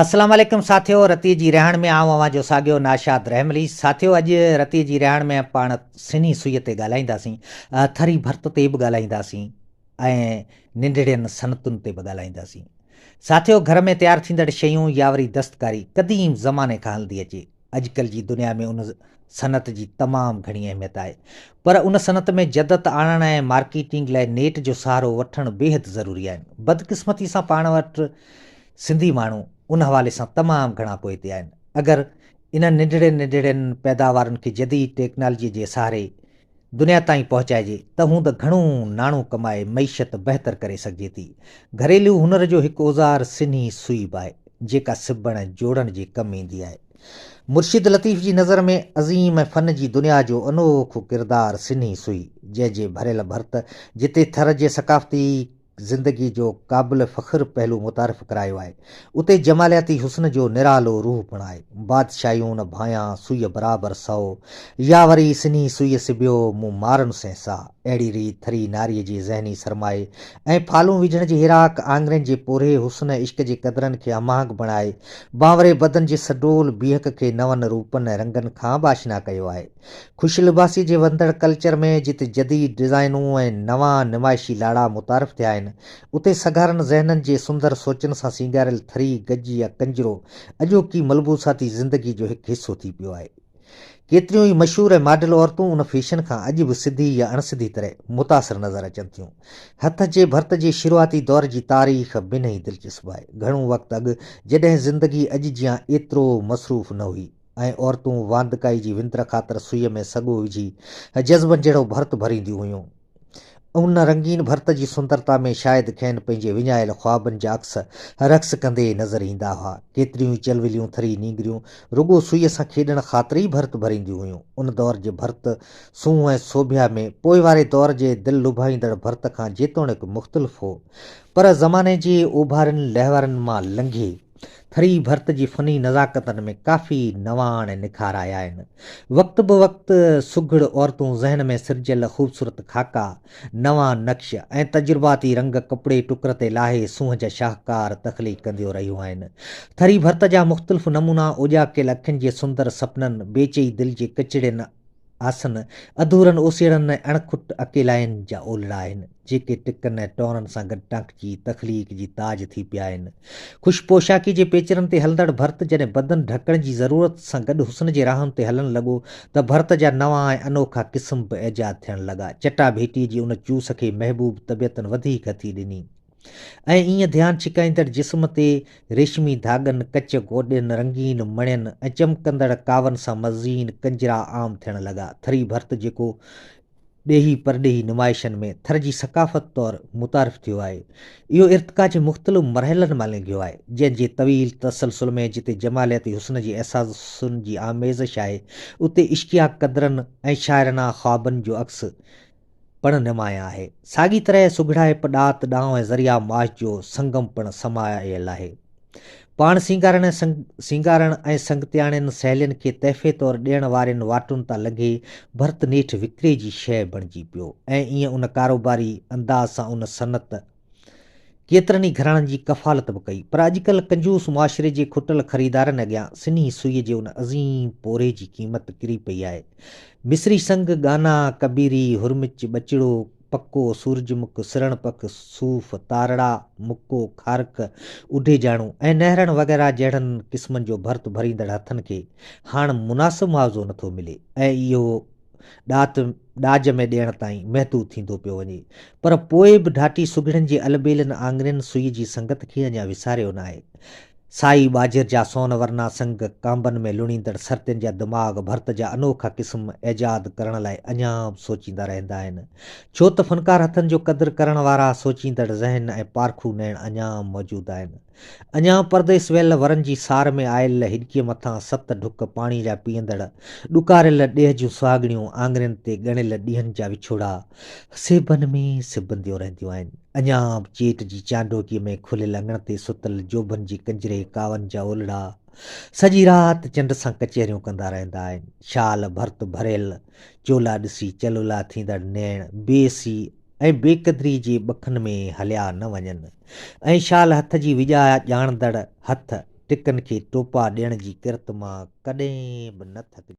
السلام عليڪم ساٿيو رتي جي رهاڻ ۾ آئون اوهان جو ساڳيو ناشاد رحملي ساٿيو اڄ رتي جي رهاڻ ۾ پاڻ سنهي سئي تي ڳالهائينداسين ٿري ڀرت تي به ڳالهائينداسين ۽ ننڍڙين صنعتن تي به ڳالهائينداسين ساٿيو گهر ۾ تيار ٿيندڙ شيون يا وري دستڪاري قديم زماني کان هلندي اچي اڄڪلهه جي دنيا ۾ ان صنعت جي تمام گهڻي اهميت آهي پر ان صنعت ۾ جدت آڻڻ ۽ مارڪيٽنگ لاء نيٽ جو سهارو وٺڻ بيحد ضروري آهن بدقسمتي سان پاڻ وٽ سنڌي ماڻهو ان حوالي سان تمام گهڻا پوئتي آهن اگر انهن ننڍڙين ننڍڙين پيداوارن کي جديد ٽيڪنالجي جي سهاري دنيا تائين پهچائجي ته هوند گهڻو ناڻو ڪمائي معيشت بهتر ڪري سگهجي ٿي. گهريلو هنر جو هڪ اوزار سنهي سوئي به آهي، جيڪا سبڻ ۽ جوڙڻ جي ڪم ايندي آهي. مرشد لطيف جي نظر ۾ عظيم ۽ فن جي دنيا جو انوکو ڪردار سنهي سوئي، جنهن جي ڀريل ڀرت جتي ٿر جي ثقافتي، زندگي جو قابل فخر پهلو متعارف ڪرايو آهي. اتي جمالياتي حسن جو نرالو روح پڻ آهي. بادشاهيون ڀانئيان سوئي برابر سئو، يا وري سنهي سوئي سبيو مون مارن سين سا. اهڙي ريت ٿري ناري جي ذهني سرمائي ۽ ڦالون وجهڻ جي هيراڪ آڱرين جي پورهيي حسن عشق جي قدرن کي هماهنگ بڻائي، بانوري بدن جي سڊول بيهڪ کي نون روپن ۽ رنگن کان به آشنا ڪيو آهي. خوش لباسي جي وڌندڙ ڪلچر ۾ جتي جديد ڊزائنون ۽ نوان نمائشي لاڙا متعارف ٿيا آهن، اتي سگهارن ذهنن جي سندر سوچن سان سينگاريل ٿري، گج يا ڪنجرو اڄوڪي ملبوساتي زندگي جو هڪ حصو ٿي پيو آهي. ڪيتريون ئي مشهور ۽ ماڊل عورتون ان فيشن کان اڄ به سڌي يا اڻسڌي طرح متاثر نظر اچن ٿيون. هٿ جي ڀرت جي شروعاتي دور جي تاريخ به انهي دلچسپ آهي. گهڻو وقت اڳ جڏهن زندگي اڄ جيان ايترو مصروف نه هئي. ۽ عورتون واندڪائي جي وندر خاطر سوئيء ۾ سڳو وجهي جذبن جهڙو ڀرت ڀرينديون هيون. ان رنگين ڀرت جي سندرتا ۾ شايد کين پنهنجي وڃايل خوابن جا عڪس رقص ڪندي نظر ايندا هئا. ڪيتريون ئي چلوليون ٿري نينگريون رڳو سوئيء سان کيڏڻ خاطر ئي ڀرت ڀرينديون هيون. ان دور جي ڀرت سونهن ۽ سوڀيا ۾ پوء واري دور جي دل لڀائيندڙ ڀرت کان جيتوڻيڪ مختلف هو، پر زماني جي اوڀارين لهورن مان لنگهي، ٿري ڀرت جي فني نزاڪتن ۾ ڪافي نواڻ ۽ نکار آيا آهن. وقت بوقت سگهڙ عورتون ذهن ۾ سرجيل خوبصورت خاڪا، نوان نقش ۽ تجرباتي رنگ ڪپڙي ٽڪر تي لاهي سونهن جا شاهڪار تخليق ڪنديون رهيون آهن. ٿري ڀرت جا مختلف نمونا اوڄاڪيل اکين جي سندر سپنن، بي چئي دل جي ڪچڙين آسن، اڌورن اوسيئڙن ۽ اڻکٽ اڪيلاين جا اولڙا آهن. جيڪي ٽڪن ۽ ٽورن سان گڏ ٽانڪچي تخليق جي تاج ٿي پيا آهن. خوش پوشاڪي جي پيچرن تي هلندڙ ڀرت جڏهن بدن ڍڪڻ جي ضرورت سان گڏ حسن جي راهن تي هلڻ لڳو ته ڀرت جا نوان ۽ انوکا قسم به ايجاد ٿيڻ لڳا. چٽا ڀيٽي جي ان چوس کي محبوب طبيعتن وڌيڪ هٿي ڏني ۽ ايئن ڌيان ڇڪائيندڙ جسم تي ريشمي ڌاڳن، ڪچ گوڏين، رنگين مڻين ۽ چمڪندڙ ڪاون سان مزين ڪنجرا عام ٿيڻ لڳا. ٿري ڀرت جيڪو. ڏيهي پرڏيهي نمائشن ۾ ٿر جي ثقافت طور متعارف ٿيو آهي. اهو ارتقا جي مختلف مرحلن مان لنگهيو آهي، جنهن جي طويل تسلسل ۾ جتي جمالياتي حسن جي احساسن جي آميزش آهي، اتي عشقيا قدرن ۽ شاعرانه خوابن جو عڪس پڻ نمايان آهي. ساڳي طرح سگهڙائپ، ڏات، ڏانء ۽ ذريعه معاش جو سنگم پڻ سمايل آهي. پاڻ سينگارڻ ۽ سنگ سينگارڻ ۽ سنگتياڻين سهيلين کي تحفي طور ڏيڻ وارين واٽن تان لنگهي ڀرت نيٺ وڪري جي شيء بڻجي پيو ۽ ايئن ان ڪاروباري انداز سان ان صنعت ڪيترن ئي گهراڻن جي ڪفالت به ڪئي پر اڄڪلهه ڪنجوس معاشري جي کٽل خريدارن اڳيان سنهي سوئيء جي ان عظيم پورهيي جي قيمت ڪري پئي آهي مصري سنگ، ڳانا، ڪبيري، هرمچ، ٻچڙو، پڪو، سورج مک، سرڻ پک، صوف، تارڙا، مڪو، کارڪ، اڍيجاڻو ۽ نهرڻ وغيره جهڙن قسمن جو ڀرت ڀريندڙ هٿن کي هاڻ مناسب معاوضو نٿو ملي ۽ اهو ڏات ڏاج ۾ ڏيڻ تائين محدود ٿيندو پيو وڃي پر پوء به ڍاٽي سگهڙن جي البيلن آڱرين سوئي جي سنگت کي اڃا وساريو ناهي. سائي ٻاجهر جا سون ورنا سنگ، ڪانبن ۾ لڻيندڙ سرتين جا دماغ، ڀرت جا انوکا قسم ايجاد ڪرڻ لاء اڃا به سوچيندا رهندا آهن، ڇو ته فنڪار هٿن جو قدر ڪرڻ وارا سوچيندڙ ذهن ۽ پارکو نيڻ اڃا به موجود آهن. اڃا به پرديس ويل ورن جي سار ۾ آيل هڏڪيء مٿان ست ڍڪ پاڻي جا پيئندڙ ڏڪاريل ڏيهه جون سهاڳڻيون آڱرين تي ڳڻيل ڏينهن جا وڇوڙا سيبن ۾ سيبنديون رهنديون آهن. اڃان به چيٽ جي چانڊوڪيء ۾ کليل اڱڻ تي ستل جوڀن جي ڪنجري ڪاون جا اولڙا سڄي رات چنڊ سان ڪچهريون ڪندا رهندا آهن. شال ڀرت ڀريل چولا ڏسي چلولا ٿيندڙ نيڻ بي حسي ۽ بي قدري جي ٻکن ۾ هليا نه وڃن ۽ شال هٿ جي وڄايا ڄاڻندڙ هٿ ٽڪن کي ٽوپا ڏيڻ جي ڪرت مان ڪڏهن به نه ٿڪجن.